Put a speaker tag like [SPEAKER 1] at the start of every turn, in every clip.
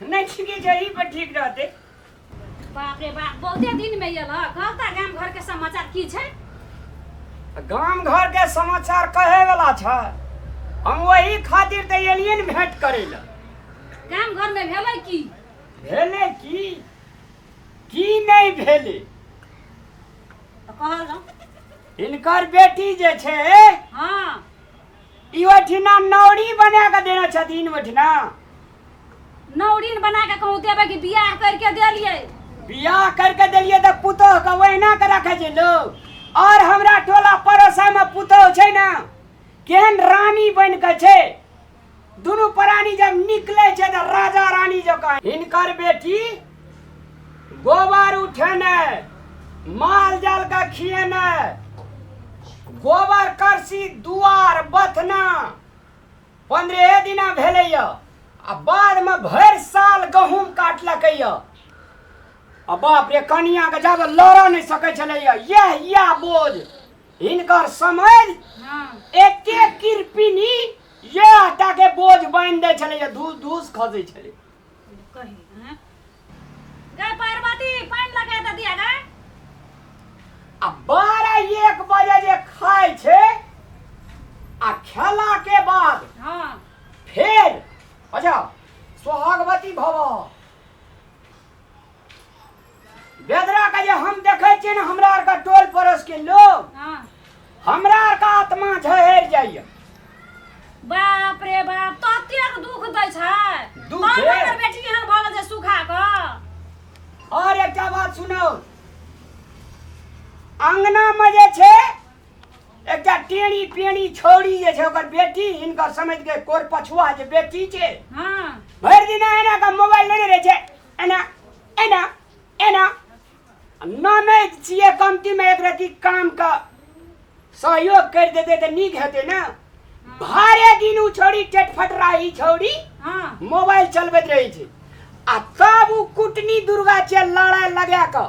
[SPEAKER 1] नहि छिके जही पर ठीक रहते बाप
[SPEAKER 2] रे बाप बहुते दिन में ये लग कहता गांव घर के समाचार की छै
[SPEAKER 1] गाम घर के समाचार कहे वाला छ हम वही खातिर ते एलिए ने भेंट करे ला गांव घर
[SPEAKER 2] में भेलै की भेले
[SPEAKER 1] की की नहीं भेले तो कहल
[SPEAKER 2] जाओ इनकर
[SPEAKER 1] बेटी जे छै हाँ ई ओठिना नौरी बना के देने छथिन ओठिना
[SPEAKER 2] नौरीन बना के कहूँ देवे कि बियाह करके देलिए बियाह करके
[SPEAKER 1] देलिए तऽ पुतोह के ओहिना के रखे छै लोग और हमरा टोला पड़ोसा में पुतोह छै ना केहन रानी बन के छै दुनू प्राणी जब निकले छै तऽ राजा रानी जकाँ हिनकर बेटी गोबर उठेने माल जाल का खिएने गोबर करसी दुआर बथना पंद्रहे दिना भेलैए आ बादमे भरि साल गहूँम काटलकैए आ बाप रे कनियाके जब लड़ऽ नहि सकै छलैए यह यह बोझ हिनकर समझ
[SPEAKER 2] एके
[SPEAKER 1] किरपिनी इएह टा के बोझ बान्हि दै छलै जे धूस धूस खसै छलै कही
[SPEAKER 2] हैं? गए पार्वती पानि लगा दे दिया गए
[SPEAKER 1] आ बारह एक बजे जे खाइ छै आ खेला के बाद हाँ
[SPEAKER 2] फेर
[SPEAKER 1] अच्छा सोहागवती भव बेदरा के जे हम देखे छियै ने हमरा आर के टोल पड़ोस के लोग हाँ
[SPEAKER 2] हमरा आर
[SPEAKER 1] के आत्मा झहर जाइए
[SPEAKER 2] बाप रे बाप ततेक दुख दै छै दुख तब हे। हमर
[SPEAKER 1] बेटी एहन
[SPEAKER 2] भऽ गेल
[SPEAKER 1] जे
[SPEAKER 2] सुखा कऽ और एकटा बात
[SPEAKER 1] सुनो अंगना में जे छै एकटा टेढ़ी पेढ़ी छौड़ी जे छै ओकर बेटी हिनकर समझ के कोर पछुआ जे बेटी छै हाँ भरि
[SPEAKER 2] दिन एना
[SPEAKER 1] के मोबाइल लेने रहे छै एना एना एना आ ननद छियै कमतीमे एक रति कामके सहयोग करि देतै तऽ नीक हेतै ने भरे दिन ओ छौड़ी टेटफट रही छौड़ी हाँ मोबाइल
[SPEAKER 2] चलबैत
[SPEAKER 1] रहै छै आ तब ओ कुटनी दुर्गा छै लड़ाइ लगा कऽ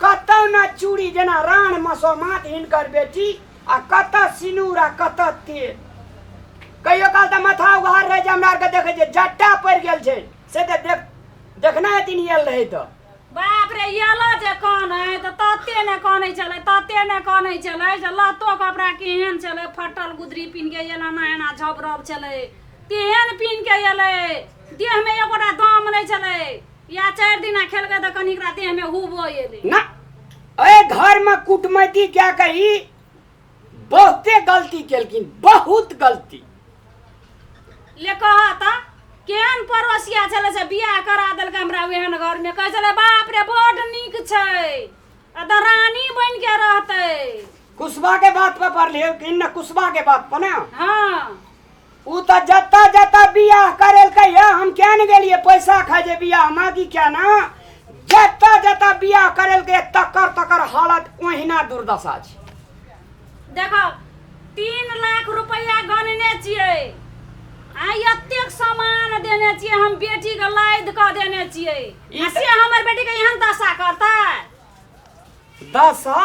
[SPEAKER 1] कतहु ने चूड़ी जेना रान मसोमात हिनकर बेटी आ कतऽ सिनूर आ कतऽ तेल कहियो काल तऽ माथा उघार रहै छै हमरा आरके देखै छै जट्टा पड़ि गेल छै से तऽ देख देखने हेथिन आयल रहै तऽ बाप रे
[SPEAKER 2] येलो जे कानै तऽ तते ने कानै छलै तते ने कानै छलै जे लहतो कपड़ा केहन छलै फटल गुदरी पिन्ह के एना ना एना झबरब छलै तेहन पिन्ह के एलै देहमे एगोटा दाम नहि छलै या चारि दिना खेलकै तऽ कनी एकरा देहमे हुबो एलै ना
[SPEAKER 1] एहि घरमे कुटमैती कए कऽ ई बहुते गलती केलखिन बहुत गलती
[SPEAKER 2] ले कह तऽ केहन पड़ोसिया छलै से बियाह करा देलकै हमरा ओहन घरमे कहै छलै बाप रे बड नीक छै आ तऽ रानी बनि के रहतै कुशबा के
[SPEAKER 1] बात पर पढ़लियै कि न कुशबा के बात पर ना हँ
[SPEAKER 2] उ त
[SPEAKER 1] जत्ता जत्ता बियाह करेलकै या हम क्या ने गेलिए पैसा खाए जे बियाह में कि क्या ना जत्ता जत्ता बियाह करेलकै तकर तकर हालत ओहिना दुर्दशा छै देखो
[SPEAKER 2] तीन लाख रुपया गनने छियै आ एतेक सामान देने छियै हम बेटी के लाद कऽ देने छियै ई आ तऽ- से हमर
[SPEAKER 1] बेटी के
[SPEAKER 2] एहन दशा करतै दशा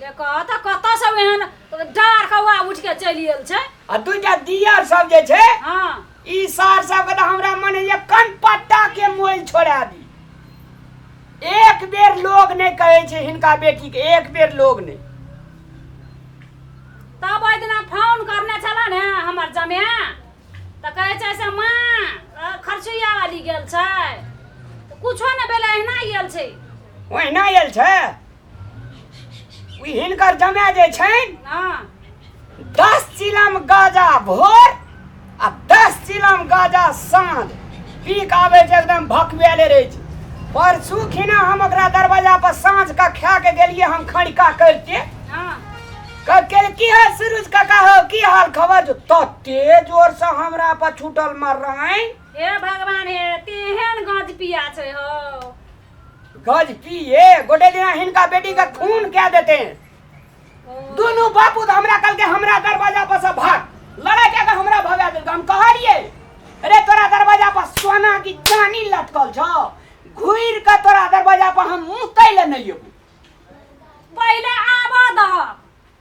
[SPEAKER 2] देखऽ तऽ कतऽ सब एहन डार कौआ उठ के चलि गेल छै
[SPEAKER 1] आ दूटा दियर सब जे
[SPEAKER 2] छै
[SPEAKER 1] हाँ ई सार सबके तऽ हमरा
[SPEAKER 2] मन
[SPEAKER 1] होइए कन पत्ता के मोल छोड़ा दी एक बेर लोग नहि कहै छै हिनका बेटी के एक बेर लोग नहि
[SPEAKER 2] तब ओहि दिना फोन करने छला ने हमर जमे तऽ कहै छै से माँ अ, खर्चुया वाली गेल छै तऽ कुछो नहि भेलै एहिना गेल छै ओहिना आयल
[SPEAKER 1] छै ई हिनकर जमे जे छनि हाँ
[SPEAKER 2] दस
[SPEAKER 1] चिलम गाजा भोर आ दस चिलम गाजा साँझ पी के आबै छै एकदम भकबेले रहै छै परसू खिना हम ओकरा दरवाजा पर साँझ के खा के गेलियै हम खड़िका करिते
[SPEAKER 2] हाँ कल
[SPEAKER 1] की है सूरज काका हो की हाल खबर जो तते जोर से हमरा पर छूटल मार रहे हे भगवान
[SPEAKER 2] हे तेहन गंज पिया छै हो गज
[SPEAKER 1] की ये गोटे दिन हिनका बेटी का खून क्या देते हैं दोनों बापू तो हमरा कल के हमरा दरवाजा पर से भाग लड़ाई क्या हमरा भगा दिल हम कह रहिए अरे तोरा दरवाजा पर सोना की चानी लटकल छ घुर के तोरा दरवाजा पर हम मुतै ले नहीं अबू
[SPEAKER 2] पहले आबा दह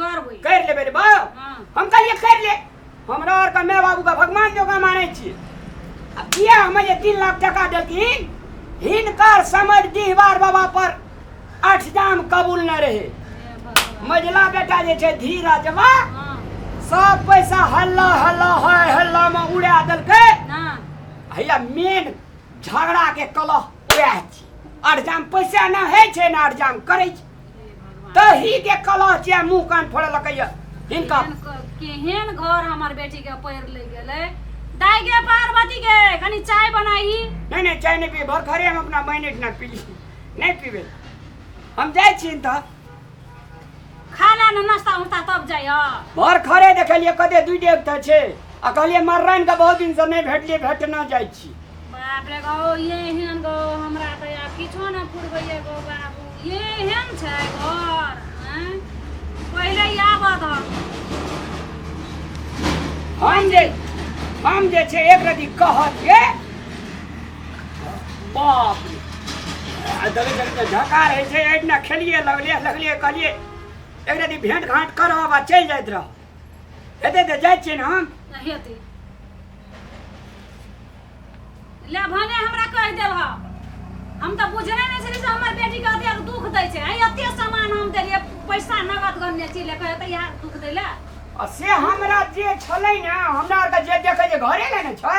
[SPEAKER 1] करबै करि
[SPEAKER 2] लेबै रे बाउ
[SPEAKER 1] हँ हम कहलिए
[SPEAKER 2] करि ले
[SPEAKER 1] हमरा आर के माय बाबू के भगवान जोगा मानै छियै आ किया हमे जे तीन लाख टका देलखिन हिनकर समझ डिहबार बाबा पर अठजाम कबूल न रहे हे भगवान। मझिला बेटा जे छै धीरजवा हँ
[SPEAKER 2] सब पैसा
[SPEAKER 1] हल्ला हल्ला हाय हल्ला में उड़ा देलकै ना
[SPEAKER 2] हैया
[SPEAKER 1] मेन झगड़ा के कलह उएह छी अरजाम पैसा ना है छे ना अरजाम करे छे तो ही के कलह छे मुंह कान फोड़ लकैय हिनका केहन क- केहन
[SPEAKER 2] घर हमर बेटी के पैर ले गेले दाई गे पार्वती गे कनी चाय बनाई नहीं नहीं चाय नहीं पी
[SPEAKER 1] भर घरे हम अपना मैनेट ना पी नहीं पीबे हम जाए छी त
[SPEAKER 2] खा ले ना नाश्ता उस्ता तब जाय हो भर खरे
[SPEAKER 1] देखलिए कते दुई डेग त छे आ कहलिए मर्राइन के बहुत दिन से नहीं भेटलिए भेट ना जाइ छी
[SPEAKER 2] बाप रे गो ये हेन गो हमरा त
[SPEAKER 1] यार किछो न पुरबैया गो बाबू ये हेन छै घर हैं? पहिले आब त हम जे हम जे छे एक रति कहत के बाप रे आ दबे दबे के झकार है से एक ना खेलिए लगले लगले कहलिए एक रति भेंट घाट करब आ चलि जाइत रह हेते तऽ जाइ छियै ने हम नहि
[SPEAKER 2] हेतै ले भने हमरा कहि देल ह हम तऽ बुझने नहि छली से हमर बेटी के अतेक दुख दै छै आइ एते सामान हम देलियै पैसा नगद गन्ने छी लेके एतै इएह दुख दै लए आ से हमरा
[SPEAKER 1] जे छलै ने हमरा आरके जे देखै जे घरे ले ने छै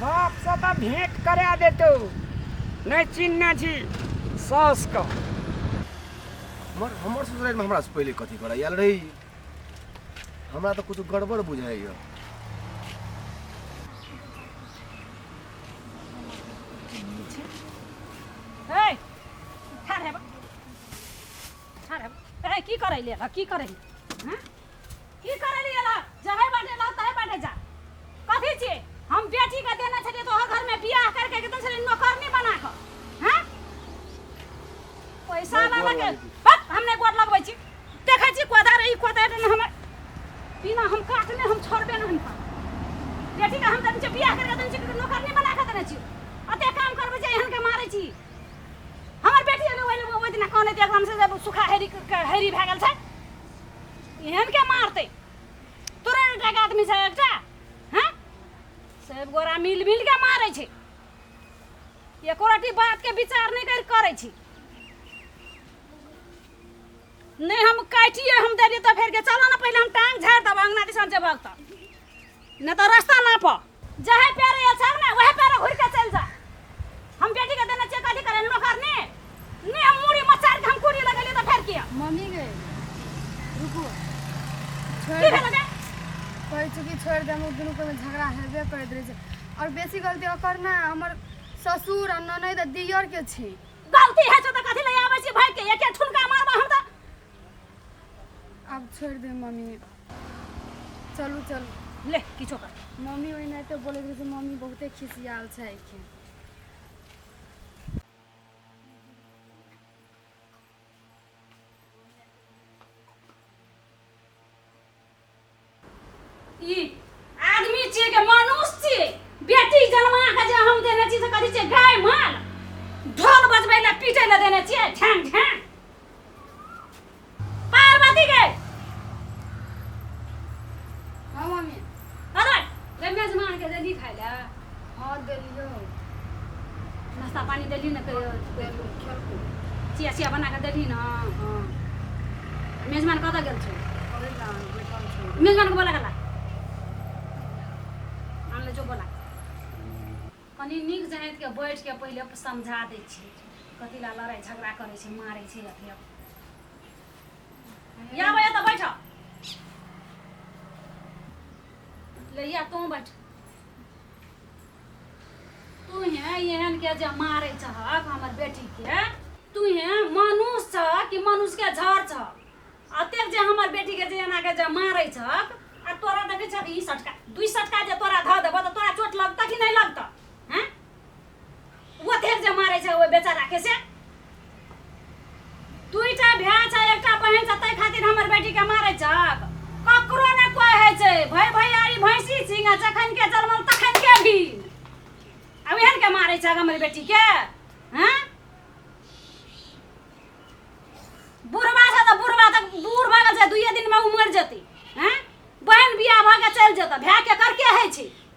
[SPEAKER 1] बापसँ तऽ भेंट करा देतौ नहि चिन्हने छी सासके हमर हमर
[SPEAKER 3] ससुरालमे हमरासँ पहिले कथी करऽ आयल रही हमरा तऽ किछु गड़बड़ बुझाइए
[SPEAKER 2] ठाढ़ हेब। ए की करै ले एलह की करै ले हँ? की करै ले एलह जहे बाटे एलह तहे बाटे जा कथी छिए हम बेटी के देने छलिए तो घर में बियाह करके के देने छलिए नौकरनी बना के हैं पैसा नहीं वाला गोर के वाली दी। बस हम नहीं गोर लगबै छी देखै छी कोदार ई कोदार ने हमर बिना हम काटने हम छोड़बे ने हम काट। बेटी के हम देने छी बियाह करके देने छी नौकरनी बना के देने छी अते काम करबै जे एहन के मारै छी हमर बेटी ने ओहि ओहि दिना कहने जे एकदम से जब सुखा हेरी हेरी भए गेल छै एहन के मारते तोरा एकटा आदमी छै एकटा हैं सब गोरा मिल मिल के मारै छै एको रति बात के विचार नहीं कर करै छी नहीं हम काटिए हम दे दिए तो फेर के चलो ना पहले हम टांग झाड़ देब अंगना दिसन जेबहक तऽ नहि तऽ रास्ता नापऽ जहे पैर ये छर ने वहे पैर घुर के चल जा हम बेटी के देना चाहिए अधिकार नो करने ने हम मुड़ी मचार के हम कुड़ी लगले तो फेर किया मम्मी गए
[SPEAKER 4] रुको की छोड़ भेल बे कहे छु कि छोड़
[SPEAKER 2] दे
[SPEAKER 4] हम दुनू के झगड़ा हेबे
[SPEAKER 2] करैत
[SPEAKER 4] रहे छै और बेसी गलती ओकर ना हमर ससुर आ ननद आ दियर के छै गलती है तो
[SPEAKER 2] कथि ले आवे छी भाई के एके ठुनका मारबा हम तो आब
[SPEAKER 4] छोड़ि दे मम्मी चलू चलू ले किछो कर
[SPEAKER 2] मम्मी ओहिना तऽ
[SPEAKER 4] बोलैत रहै छै मम्मी बहुते खिसियाल छै एखन
[SPEAKER 2] ई आदमी छियै कि मनुष्य छियै बेटी जन्मा के जे हम देने छी से कथी छियै गाय माल ढोल बजबै लए पीटै लए देने छियै ढांग ढांग पार्वती के
[SPEAKER 4] हाँ मम्मी अरे
[SPEAKER 2] रे मेजमान के देली खाय लए हँ देलियो नाश्ता पानी देली ने कहियो देलियो खेलको
[SPEAKER 4] चिया चिया बना
[SPEAKER 2] कऽ देली ने हँ मेजबान कतऽ गेल छै अरे ना बैठल
[SPEAKER 4] छौ मेजबान के बोला गेला
[SPEAKER 2] आनले जो बोला कनी नीक जनाइत के बैठ के पहिले समझा दै छियै कथी ला लड़ाइ झगड़ा करै छै मारै छै अथी अब। या भैया तऽ बैठ लैया तू बैठ तू है एहन के जे मारे छहक हमर बेटी के तू है मनुष्य छ कि मनुष्य के झर छ अतेक जे हमर बेटी के जे एना के जे मारे छहक आ तोरा देखे छहक ई सटका दुई सटका जे तोरा धऽ देबो तऽ तोरा चोट लगतऽ कि नहि लगतऽ हैं ओतेक जे मारै छै ओहि बेचाराके से दुईटा भाय छै एकटा बहन छै ताहि खातिर हमर बेटीके मारै छ ककरो ने कोइ होइ छै भय भैयारी भैंसी सिंह जखन के जलमल तखन के भी अब एहन के मारै छ हमर बेटीके हँ बुढ़वा छै तऽ बुढ़वा तक बूढ़ भऽ गेल छै दुइए दिनमे ओ मरि जेतै हँ बहन बियाह भऽ के चलि जेतै भायके करके होइ छै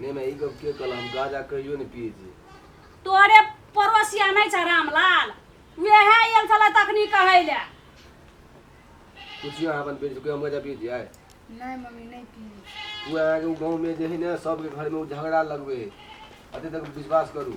[SPEAKER 2] नहीं मैं ये कब
[SPEAKER 3] के कल हम गाजा कहियो नहीं पिए छी तोरे
[SPEAKER 2] पड़ोसिया नहीं छ रामलाल वह आयल छल तखनी कहे ले पूछियो
[SPEAKER 3] अपन बेटी से कोई हम गाजा पिए छी आय नहीं मम्मी नहीं
[SPEAKER 4] पी वो अहाँ के गांव में
[SPEAKER 3] जे है ना सबके घर में उ झगड़ा लगबे है अते तक विश्वास करू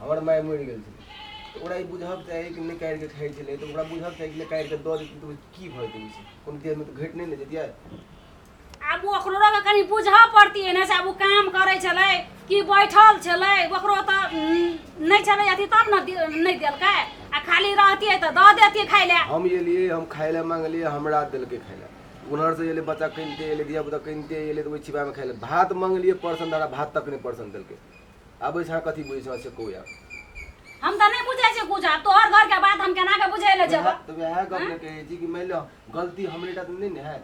[SPEAKER 3] हमर माय मरि गेल छै तऽ ओकरा ई बुझब चाही कि नहि काटि कऽ खाइ छलै तऽ ओकरा बुझब चाही कि नहि काटि कऽ दऽ देतै तऽ ओ की भऽ जेतै ओहिसँ कोनो देहमे तऽ घटि नहि ने जैतियै आब
[SPEAKER 2] ओ ओकरो के कनि बुझऽ पड़तियै ने से आब ओ काम करै छलै कि बैठल छलै ओकरो तऽ उम, नहि छलै अथी तब ने दे- नहि देलकै आ खाली रहतियै तऽ दऽ देतियै खाय लए हम एलियै हम खाय
[SPEAKER 3] लए मांगलियै हमरा देलकै खाय लए उन्हर से एलै बच्चा कनिते एलै धिया पुता कनिते एलै तऽ ओहि छिपामे खाय लए भात मांगलियै पर्सन दादा भात तक नहि पर्सन देलकै आबै छै कथी बुझै छै से कहू यार हम तऽ नहि
[SPEAKER 2] बुझै छियै कुछ आब तोहर घर के बात हम केना के बुझै ले जेबो तऽ वएह गप ने कहै
[SPEAKER 3] छी कि मानि लिअ गलती हमरे टा तऽ नहि ने है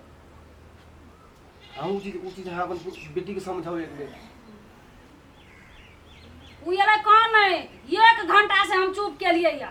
[SPEAKER 3] अहूँ ओ चीज ओ चीज अहाँ अपन बेटीके समझाउ एक बेर
[SPEAKER 2] उ एलै कौन है एक घंटा से हम चुप के लिए या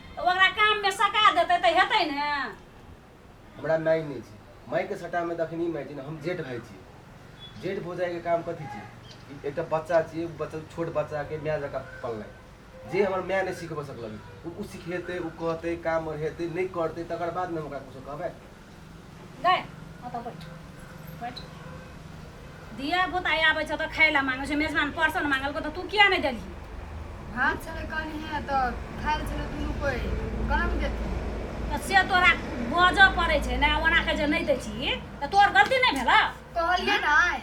[SPEAKER 2] तऽ ओकरा
[SPEAKER 3] काममे
[SPEAKER 2] सका
[SPEAKER 3] देतै तऽ
[SPEAKER 2] हेतै ने हमरा माय
[SPEAKER 3] नहि
[SPEAKER 2] छै मायके
[SPEAKER 3] सटामे तऽ अखन ई माय छै ने हम जेठ भाय छी जेठ भौजाइके काम कथी छै ई एकटा बच्चा छियै ओ बच्चा छोट बच्चाके माय जकाँ पलनाइ जे हमर माय नहि सिखबऽ सकलक ओ ओ सिखेतै ओ कहतै काम आओर हेतै नहि करतै तकर बाद ने हम ओकरा किछो कहबै
[SPEAKER 2] दिया बुता आबै छ त खाइ ला मांगे छ मेजबान पर्सन मांगल को त तू किया नै देली हां चले
[SPEAKER 4] कनी है त खाइ चले दुनु कोइ गरम देती त से तोरा
[SPEAKER 2] बज पड़े छै ना ओना के जे नै दै छी त तोर गलती नै भेला कहलिए
[SPEAKER 4] नै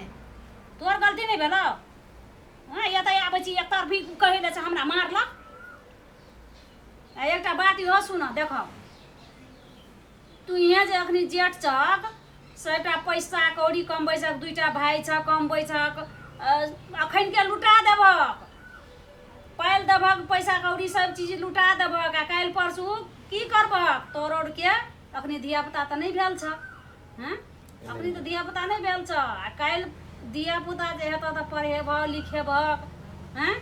[SPEAKER 4] तोर
[SPEAKER 2] गलती नै भेला हां या त आबै छी एक तरफी कहै ले छ हमरा मारला एकटा बात इहो सुन देखो तुहेँ जे अखनी जेठ छक सभटा पैसा कौड़ी कमबै छक दुइटा भाय छक कमबै छक अखन के लुटा देबहक पालि देबहक पैसा कौड़ी सब चीज लुटा देबहक आ काल्हि परसू की करबहक तोर औरके अखनी धियापुता तऽ नहि भेल छक हँ अखनी तऽ धिया पुता नहि भेल छ आ काल्हि धिया पुता जे हेतह तऽ पढ़ेबह लिखेबह हैं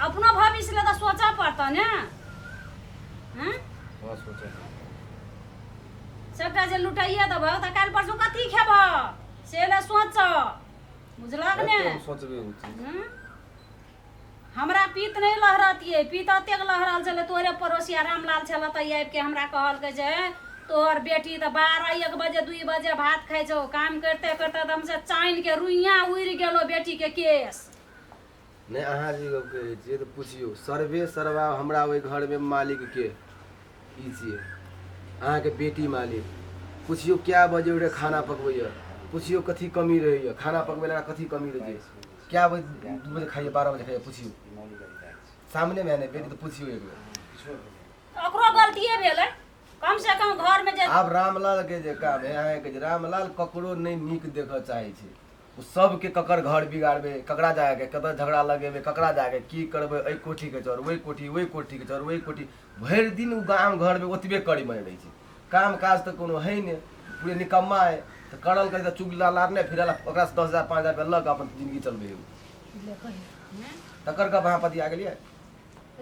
[SPEAKER 2] अपनो भविष्य ले तऽ सोचऽ पड़तह ने हैं हँ सोचै
[SPEAKER 3] छी।
[SPEAKER 2] सबटा जे लुटाइए देबह तऽ काल्हि परसू कथी खेबह से लए सोचऽ बुझलक ने सोचबे उचित
[SPEAKER 3] हँ?
[SPEAKER 2] हमरा पीत नहि लहरतियै पीत एतेक लहरल छलै तोरे पड़ोसिया रामलाल छलै तऽ आबि कऽ हमरा कहलकै जे तोहर बेटी तऽ बारह एक बजे दुई बजे भात खाइ छौ काम करिते करिते तऽ हमसे चानिके रुइया उड़ि गेलो बेटीके केस नहि
[SPEAKER 3] अहाँ जे गप कहै छियै तऽ पुछियौ सर्वे सर्वा हमरा ओहि घरमे मालिकके ई छियै अहाँके बेटी मालिक पुछियौ कए बजे उठि खाना पकबैए पुछियौ कथी कमी रहैए खाना पकबै लए कथी कमी रहै छै क्या बजे दू बजे खाइए बारह बजे खाइए पूछियो सामने में है ना बेटी तो पूछियो एक बेर ओकरो गलतिए
[SPEAKER 2] भेलै कम से कम घर में जे आब रामलाल के जे
[SPEAKER 3] काम है अहाँ के जे रामलाल ककरो नहीं नीक देख चाहे छै ओ सबके ककर घर बिगाड़बे ककरा जाके कतऽ झगड़ा लगेबे ककरा जाके की करबे एहि कोठी के चोर ओहि कोठी ओहि कोठी के चोर ओहि कोठी भरि दिन ओ गाम घर में ओतबे करै में रहै छै काम काज तऽ कोनो है ने पूरे निकम्मा है तऽ करल करी तऽ चुगला लारने फिरल आ ओकरा से दस हजार पाँच हजार रुपया लऽ के अपन जिंदगी चलबे है ले कही हम्म? तकर गप अहाँ पतिया गेलियै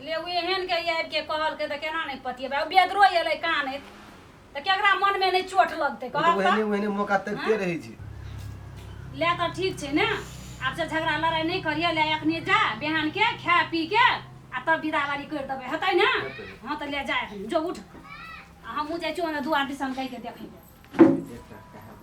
[SPEAKER 3] ले उ
[SPEAKER 2] एहन के ई आबि के कहलकै तऽ केना नहि पतियेबै ओ बेदरो एलै कानैत तऽ केकरा मन में नहि चोट लगतै ओ तऽ कहल ओहने ओहने मौका तकते
[SPEAKER 3] रहै छै ले
[SPEAKER 2] तऽ ठीक छै ने आब से झगड़ा लड़ाई नहि करिए ले अखने जा बिहान के खा पी के आ तब विदावारी करि देबै हेतै ने हँ तऽ ले जाए जो उठ आ हमहूँ जाइ छियौ ने दुआर दिसन कहिके देखै